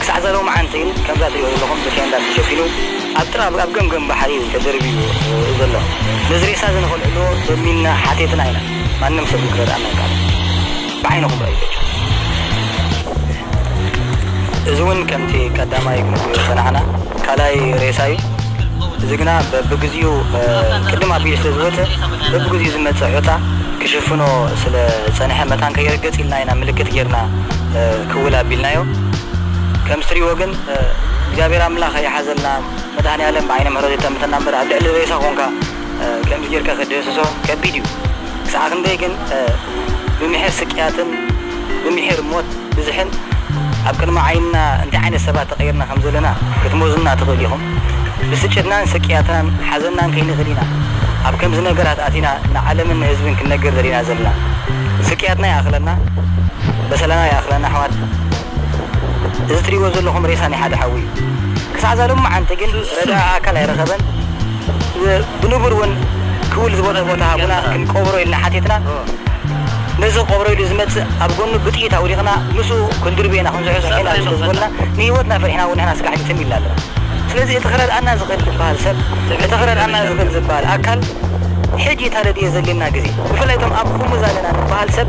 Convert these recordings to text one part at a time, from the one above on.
ክሳዕ ዛሎምዓንቲ ከምዛ ትሪእዎ ዘለኹም ብቴንዳ ተሸፊኑ ኣብ ጥራ ኣብ ገምገም ባሕሪ እዩ ተደርብዩ ዘሎ ነዚ ሬሳ እዚ ንኸልዕልዎ ለሚንና ሓቴትና ኢና ማንም ሰብ ግን ክረድኣና ኣይከኣለን ብዓይንኹም ረኣዩ በጃኹም እዚ ውን ከምቲ ቀዳማይ ክንብሎ ዝጸናሕና ካልኣይ ሬሳ እዩ እዚ ግና በብግዚኡ ቅድም ኣቢሉ ስለ ዝወጸ በብግዚኡ ዝመጽእ ሑታ ክሽፍኖ ስለ ዝጸንሐ መታን ከይርገጽ ኢልና ኢና ምልክት ጌርና ክውል ኣቢልናዮ ከምስ ትሪእዎ ግን እግዚኣብሔር ኣምላክ ይሓዘልና መድሃኒኣለም ብዓይነ ምሕረቱ ይጠምተና እምበር ኣብ ልዕሊ ሬሳ ኮንካ ከምዚ ጌርካ ክትድህስሶ ከቢድ እዩ ክሳዕ ክንደይ ግን ብምሒር ስቅያትን ብምሒር ሞት ብዝሕን ኣብ ቅድሚ ዓይንና እንታይ ዓይነት ሰባት ተቀይርና ከም ዘለና ክትሞዝኑና ትክእሉ ኢኩም ብስጭትናን ስቅያትናን ሓዘንናን ከይንክድ ኢና ኣብ ከምዚ ነገራት ኣቲና ንዓለምን ንህዝብን ክንነግር ደሊና ዘለና ስቅያትና ይኣክለና በሰላና ይኣክለና ኣሕዋት እዚ ትሪእዎ ዘለኹም ሬሳ ናይ ሓደ ሓው እዩ ክሳዕ እዛ ሎማዓንቲ ግን ረዳኢ ኣካል ኣይረኸበን ብንቡር ውን ክውል ዝበሎ ቦታ ሃቡና ክንቀብሮ ኢልና ሓቲትና ነዚ ክቀብሮ ኢሉ ዝመጽእ ኣብ ጎኑ ብጥይት ኣውዲቅና ምስኡ ክንድርብዮ ኢና ክንዝሑ ዝሒና ስለ ዝበሉና ንሂወትና ፈሪሕና ውን ንሕና ስጋሕቲ ትም ኢልና ኣለና ስለዚ እቲ ክረድኣና ዝኽእል ዝበሃል ሰብ እቲ ክረድኣና ዝኽእል ዝበሃል ኣካል ሕጂ ተረድኤ ዘድልየና ግዜ ብፍላይ እቶም ኣብ ኹምዛ ኣለና ንበሃል ሰብ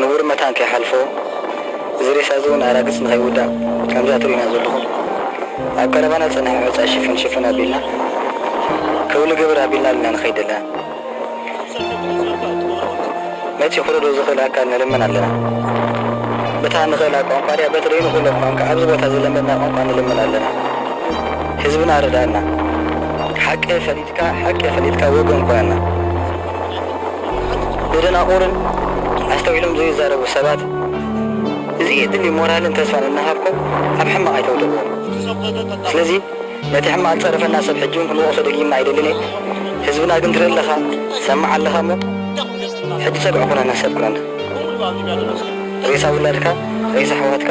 ንቡር መታን ከይሓልፎ እዚ ሬሳ'ዚ ውን ኣራግጽ ንኸይውዳእ ከምዛ ትርእዩና ዘለኹም ኣብ ቀረባና ዝጸንሐ ሑጻ ሽፍን ሽፍን ኣቢልና ከው ንገብር ኣቢልና ኣልና ንኸይድ ኣለና ነቲ ክረድኦ ዝኽእል ኣካል ንልምን ኣለና በታ ንኽእላ ቋንቋ ድያ በቲ ደይንኽእሎ ቋንቃ ኣብዚ ቦታ ዝለመድና ቋንቋ ንልምን ኣለና ህዝብና ርድኣና ሓቂ ፈሊጥና ኢልካ ሕርቅ ኢኽን ኢልካ ወገን ኮነና ንደናቁርን ኣስተውዒሎም ዘይዛረቡ ሰባት እዚ እድሊ ሞራልን ተስፋን እናሃብኩም ኣብ ሕማቅ ኣይተውድቅዎም ስለዚ ነቲ ሕማቅ ዝጸረፈና ሰብ ሕጂ ውን ክንወቅሶ ደጊምና ኣይደልን እየ ህዝብና ግን ትርኢ ኣለኻ ትሰምዕ ኣለኻ እሞ ሕጂ ጸግዒ ኩነና ሰብ ኩነና ሬሳ ውላድካ ሬሳ ኣሕዋትካ